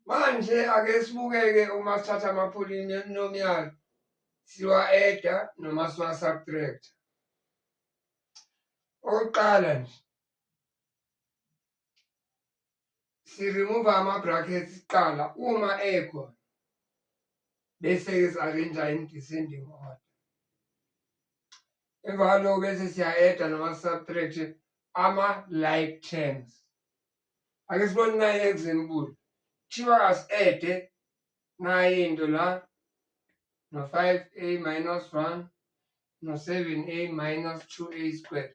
Manje ake sibukeke uma sithatha ama-polynomial siwa-eda noma siwa-subtract-a. Okokuqala nje si-remove ama-brackets kuqala uma ekhona bese-ke si-arrange in descending order emva kwaloko bese siya-eda nama-subtract ama-like terms ake sibone naye example kuthiwa asi-ede naye into la no-five a minus one no-seven a minus two a squared